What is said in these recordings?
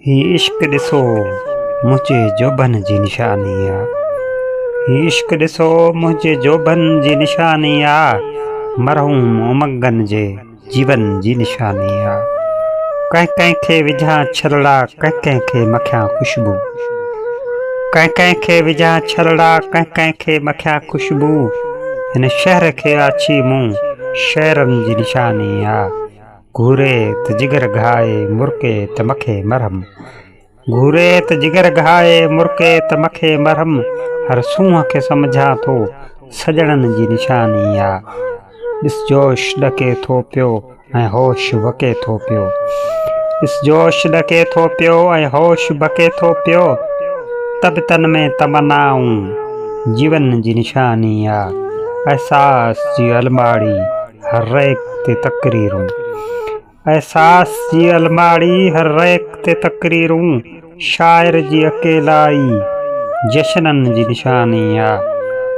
هي عشق ڏسو منهنجي جوڀن جي نشاني آ هي عشق ڏسو منهنجي جوڀن جي نشاني آ مرحوم امنگن جي جيون جي نشاني آ ڪنهن ڪنهن کي وجهان ڇرڙا ڪنهن ڪنهن کي مکيان خوشبو ڪنهن ڪنهن کي وجهان ڇرڙا ڪنهن ڪنهن کي مکيان خوشبو هن شهر کي آڇي مون شهرن جي نشاني آ گهوري ته جگر گهائي مرڪي ته مکي مرهم گهوري ته جگر گهائي مرڪي ته مکي مرهم هر سونهن کي سمجهان ٿو سڄڻن جي نشاني آ ڏس جوش ڏڪي ٿو پيو ۽ هوش وڪي ٿو پيو ڏس جوش ڏڪي ٿو پيو ۽ هوش بڪي ٿو پيو ته به تن ۾ تمنائون جيون جي نشاني آ احساس جي الماڙي هر ريڪ تي تقريرون. احساس جي الماڙي هر ريڪ تي تقريرون شاعر جي اڪيلائي جشنن جي نشاني آ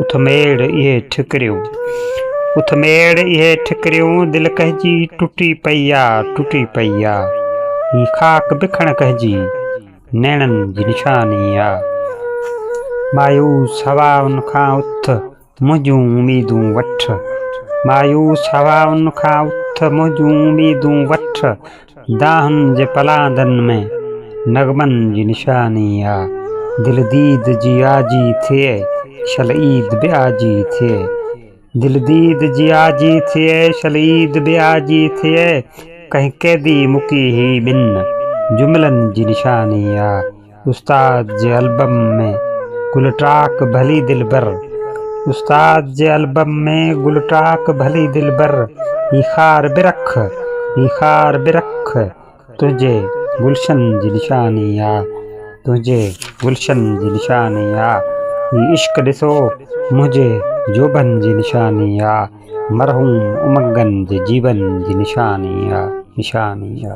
اٿ ميڙ اهي ٺڪريون اٿ ميڙ اهي ٺڪريون دل ڪنهنجي ٽٽي پئي آ ٽٽي پئي آ هي خاڪ بکڻ ڪنهنجي نيڻن جي نشاني آ مايوس هوائن کان اٿ منهنجون اميدون وٺ، مايوس هوائن کان اٿ منهنجون اميدون وٺ، دانهن جي پلاندن ۾ نغمن جي نشاني آ، دل ديد جي آجي ٿئي، شل عيد به آجي ٿئي، دل ديد جي آجي ٿئي، شل عيد به آجي ٿئي، ڪنهن قيدي مڪي هي ٻن جملن جي نشاني آ. استاد جي البم ۾ گل ٽاڪ ڀلي دلبر استاد جي البم ۾ گل ٽاڪ ڀلي دلبر هي خار به رک هي خار به رک تنهنجي گلشن جي نشاني آ تنهنجي گلشن جي نشاني آ هي عشق ڏسو منهنجي جوڀن جي نشاني آ مرحوم امنگن جي جيون جي نشاني آ نشاني آ.